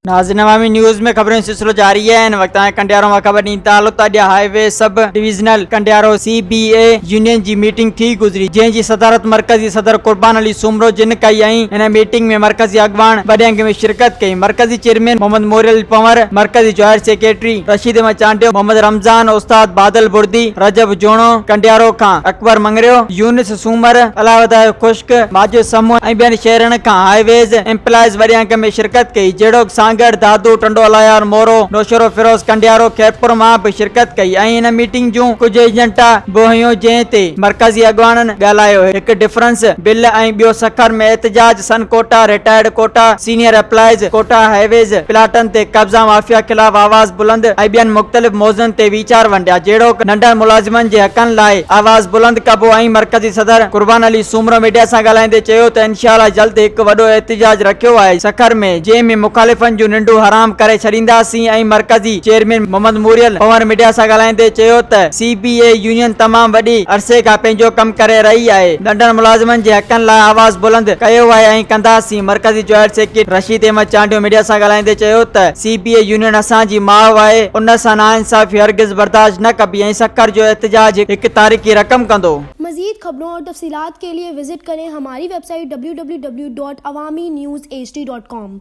ناظرين عوامي نيوز ۾ خبرن جو سلسلو جاري آهي هن وقت تائين ڪنڊيارو مان خبر ڏيندي ته الوتا ڏيا highway sub divisional Kandiaro C B A union جي ميٽنگ ٿي گذري جنهن جي صدارت مرڪزي صدر قربان علي سومرو جن ڪئي ۽ هن ميٽنگ ۾ مرڪزي اڳواڻ وڏي انگ ۾ شرڪت ڪئي مرڪزي چيئرمين محمد موريل پنور، مرڪزي جوائر سيڪريٽري رشيد احمد چانڊيو، محمد رمضان، استاد بادل بڙدي، رجب جوڻو، ڪنڊيارو کان اڪبر مڱريو، يونس سومر، الاهوڌايو خشڪ، ماجد سمون ۽ ٻين شهرن کان هاء ويز ايمپلائيز وڏي انگ ۾ شرڪت ڪئي جهڙوڪ سانگهڙ، دادو، ٽنڊو الايار، مورو، نوشهروفيروز، ڪنڊيارو، خيرپور مان به شرڪت ڪئي ۽ هن ميٽنگ جون ڪجهه ايجنڊا به هيون جنهن تي مرڪزي اڳواڻن ڳالهايو هڪ ڊفرنس بل ۽ ٻيو سکر ۾ احتجاج son quota, retired quota, senior employees, quota highways پلاٽن تي قبضا مافيا خلاف آواز بلند ۽ ٻين مختلف موضوعن تي ويچار ونڊيا جهڙوڪ ننڍن ملازمن جي حقن لاء آواز بلند ڪبو ۽ مرڪزي صدر قربان علي سومرو ميڊيا سان ڳالهائيندي چيو ته انشاء الله جلد هڪ وڏو احتجاج رکيو آهي سکر ۾ جنهن ۾ مخالفن جون ننڊون حرام ڪري ڇڏينداسين ۽ مرڪزي چيئرمين محمد موريل پنور ميڊيا سان ڳالهائيندي چيو ته سي پي اي يونين تمام وڏي عرصي کان پنهنجو ڪم ڪري رهي آهي ننڍن ملازمن جي حقن لاء آواز بلند ڪيو آهي ۽ ڪنداسين. مرڪزي joint secretary Rashid Ahmed Chandio media سان ڳالهائيندي چيو ته سي پي اي يونين اسان جي ماء آهي ان سان ناانصافي هرگز برداشت نه ڪبي ۽ سکر جو احتجاج هڪ تاريخي رقم ڪندو. مزيد خبرون اور تفصيلات کے لئے وزٽ ڪرين ھماري ويب سائيٽ www.awaminews hd.com.